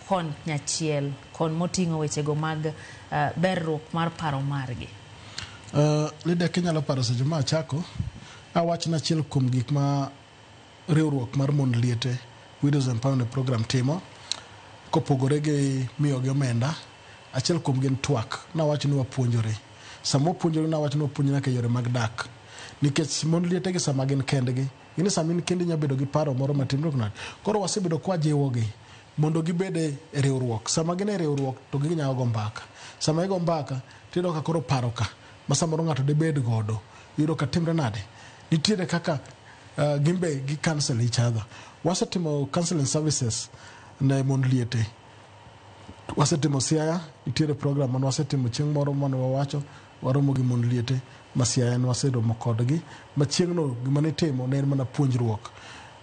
konyachiel kon moting'o wechego mag uh, berruok mar paro margi uh, lida kinyalo paro seche ma achako awachna achiel kuom gik ma riwruok mar mond liete widows empowerment program timo kopogore gi miyogi omenda achiel kuom gin twak nawach ni wapuonjore sama wapuonjore nawach ni wapuonjore nyaka yore mag dak nikech mond lietegi sama gin kendgi Ing'e sama in kendi nyalo bedo gi paro moro matin dok nade. Koro wasebedo kwa jiwogi mondo gibed e riwruok. Sama gin e riwruok to ginyalo go mbaka. Sama igo mbaka tiyudo ka koro paro ka ma samoro ng'ato debed godo iyudo ka timre nade. Nitiere kaka uh, gin be gi cancel each other. Wasetimo counseling services ne mond liete. Wasetimo Siaya, nitiere program mane wasetimo chieng' moro mane wawacho Waromo gi mond liete ma Siaya ne waseromo kodgi machieng'no. Gima nitimo ne en mana puonjruok.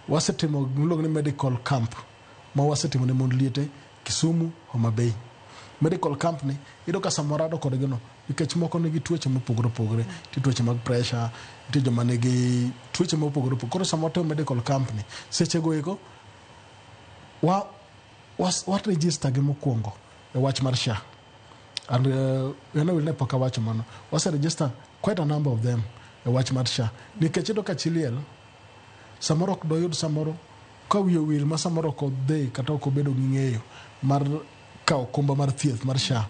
Wasetimo gima iluongo ni medical camp ma wasetimo ne mond liete Kisumu, Homa Bay. Medical camp ni iyudo ka sama warado kodgi no nikech moko nigi tuoche mopogore opogore, nitie tuoche mag pressure, nitie joma nigi tuoche mopogore opogore. Koro sama watimo medical camp ni sechego eko wa, wa, wa register gi mokwongo e wach mar SHA. and uh, ene wil ne pok awacho mano wase register quite a number of them e wach mar sha nikech iyudo ka chi liel samoro ok doyud samoro ka wiye wil ma samoro ok odhi kata ok obedo gi ng'eyo mar kawo okumba mar thieth mar sha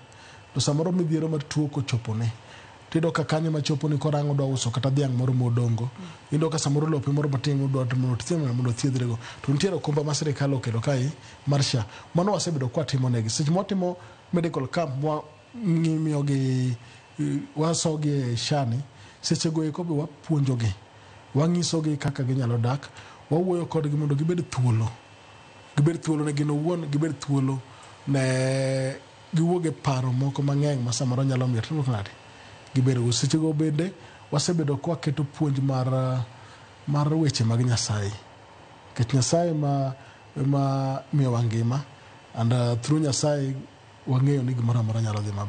to samoro midhiero mar tuo kochopone tiyudo ka kanyo ema choponi koro ang' odwa uso kata dhiang' moro modongo iyudo ka samoro lope moro matin modwa to mondo othiedh ng'ano mondo othiedhrego to nitiere okumba ma sirikal oketo kae mar SHA mano wasebedo ka watimonegi seche ma watimo medical camp ma wa- ng'i- miyogi eh, wasogi e SHA ni sechego eko be wapuonjogi wanyisogi kaka ginyalo dak wawuoyo kodgi mondo gibed thuolo gibed thuolo ne gin owuon gibed thuolo ne Giwuok e paro moko mang'eny ma samoro nyalo miyo tudruok ng'adi. Gibedogo. Sechego bende wasebedo ka waketo puonj mar mar weche mag Nyasaye. Nikech Nyasaye ema ema miyowa ngima and through Nyasaye wang'eyo ni gimoro amora nyalo dhi maber.